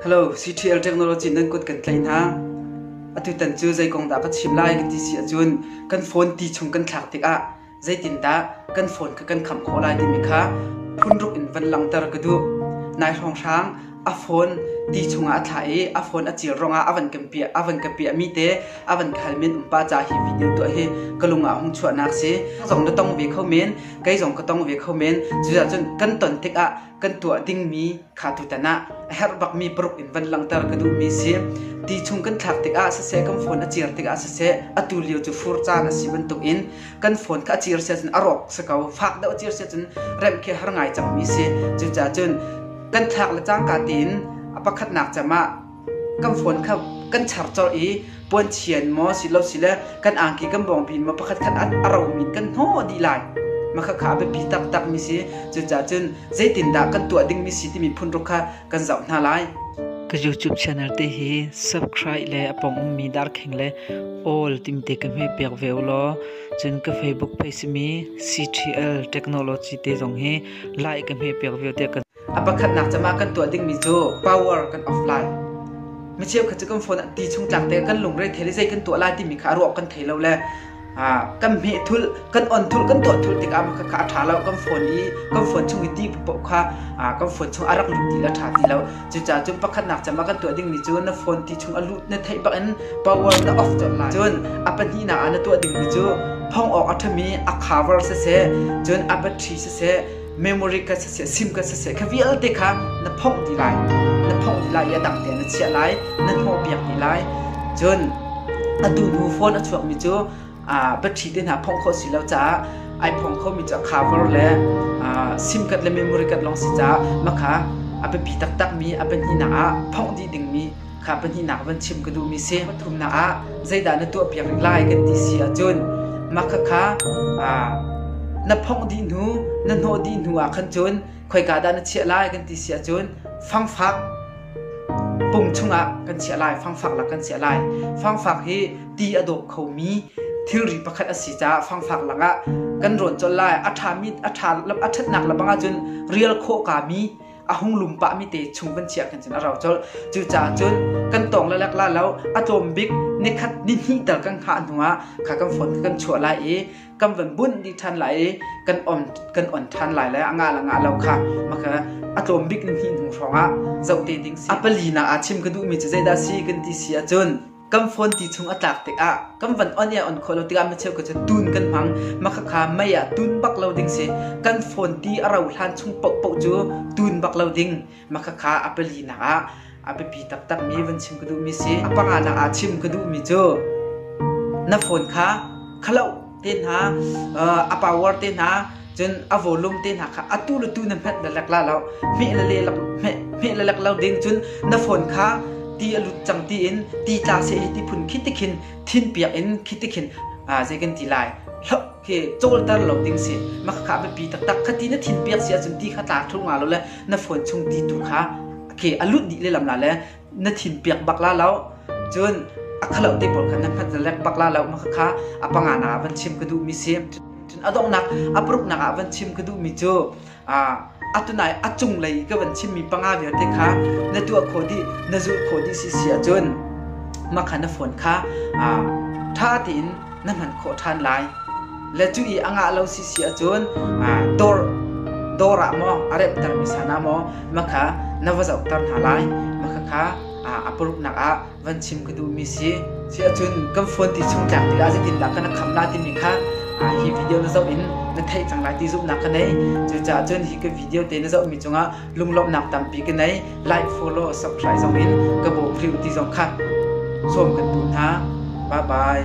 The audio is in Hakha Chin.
Hello, CTL Technology nan kut kan tlaih hna. Atutan cu zei kong dah ka chim lai ka ti si ahcun kan phone ti chung kan thlak tikah zeitindah kan phone kha kan kham khawh lai timi kha phunruk in van langhter ka duh. Nai hrawng hrang a phone ti chungah a thlah i a phone a cil ruangah a van kan piah a van ka piah mi te a van khal men um pa ca hi video tuah hi ka lungah hung chuahnak si. Ka zong na tong ve kho men, kei zong ka tong ve kho men. Cucahcun kan ton tikah kan tuah dingmi kha tutan ah a herh bakmi paruk in van langhter ka duhmi si. Ti chung kan thlak tikah siseh kan phone a cir tikah siseh atu lio cu fur caan a si bantukin kan phone kha a cir sia cun a rawk si ko fak deuh a cir sia cun remh khi har ngai cangmi si. Cucacun kan thlak le cangka tiin a pakhatnak cam ah kan phone kha kan char colh i puanchian maw silosile kan angki kan bawngpin maw pakhat khan a romi kan hnawh dih lai maka kha a biapi taktakmi si cucaah cun zeitindah kan tuah dingmi si timi phunruk kha kan zoh hna lai ka youtube channel te hi subscribe le apong ummi darkheng le all timte ka hme pek ve law cun ka facebook page mi ctl technology te zong hi like ka hme pek ve te kan A pakhatnak cam ah kan tuah dingmi cu power kan off lai. Mi cheukhat cu kan phone ah ti chung tlak te kan lungre thei le zei kan tuah lai timi kha a ruak kan thei lo le ah, kan hmeh thul, kan on thul, kan tuah thul tikah mah kha a ṭha lo. Kan phone i kan phone chung i ti poh kha ah, kan phone chung a rak lut ti le ṭha ti lo. Cucaah cun pakhatnak cam ah kan tuah dingmi cu na phone ti chung a lut na theih bak in power na off colh lai. Cun a pahnihnak ah na tuah dingmi cu phongh awk a ṭhami a cover siseh, cun a battery siseh, memory ka saseh sim ka saseh kha vialte kha na phongh dih lai na phongh dih lai i a dang tein na chiah lai na hnawh piak dih lai cun atu hnu phone a chuakmi cu battery te hna phongh kho si lo caah ai phong khomi cu a cover le sim kat le memory kat lawng si caah makha a biapi taktakmi a pahnihnak ah phongh dih dingmi kha pahnihnak van chim ka duhmi si. Pathumnak ah zeidah na tuahpiak rih lai kan ti si ahcun mah khakha na phongh dih hnu na hnawh dih hnu ah khan cun khoika dah na chiah lai kan ti si ahcun fangfak pung chungah kan chiah lai fangfak lak kan chiah lai fangfak hi ti a dawp khomi thilri pakhat a si caah fangfak lakah kan rawn colh lai a ṭhami a ṭha a ṭhatnak lebang ahcun rial khawh kami a hung lum pah mi te chung kan chiah kan cun a rau colh cucaah cun kan tawng lalak la lo a tlawm bik nikhat ni hnih tal kan hngah hnu ah kha kan phone kan chuah lai i kan van bunh dih ṭhan lai i kan on kan on ṭhan lai le a nga la nga lo kha maka a tlawm bik ni hnih hnu hrawng ah zoh te ding si a pali na aa chim ka duh mi cu zeidah si kan ti si ahcun kan phone ti chung a tlak tikah kan van on ya on khawh lo tikah micheu ka cu tun kan hmang makhakha mei ah tun bak lo ding si kan phone ti a ro hlan chung pohpoh cu tun bak lo ding makhakha a pali nak ah a biapi taktak mi van chim ka duh mi si a panga nak ah chim ka duh mi cu na phone kha khalo te hna a power te hna cun a volume te hna kha atu le tu na hmet na lek la lo hmeh le le hmeh le lek lo ding cun na phone kha ti a lut cang ti in ti tla se hi ti phun khi ti khin thin piak in khi ti khin zei kan ti lai hlop ke cawlter lo ding si mak kha be pi tak tak khati na thin piak si acun ti kha tla thu nga lo le na phone chung ti tu kha ke alut di le lam la le na thim piak bak la lo cun a khalo te pawl khan nan phat na lek bak la lo ma kha a panga na van chim ka duh mi si cun a donghnak a paruknak ah van chim ka duh mi cu a atunai a cung lei ka van chim mi panga vialte kha na tuah kho di na zul kho di si si cun ma kha na phone kha a tha tiin na hman khawh ṭhan lai. Le cu i a ngah lo sisi ahcun dawr dawr ah maw a remhtermi san ah maw makha na va zohter hna lai. Makha kha a paruknak ah van chim ka duhmi si. Si ahcun kan phone ti chung tlak tikah zeitindah kan kham lai timi kha hi video na zoh in na theih cang lai ti zumhnak ka nei. Cucaah cun hi ka video te na zohmi cungah lunglawmhnak tampi ka nei. Like, follow, subscribe zong in ka bawk hrim ti zong kha sawm kan duh hna. Bye bye.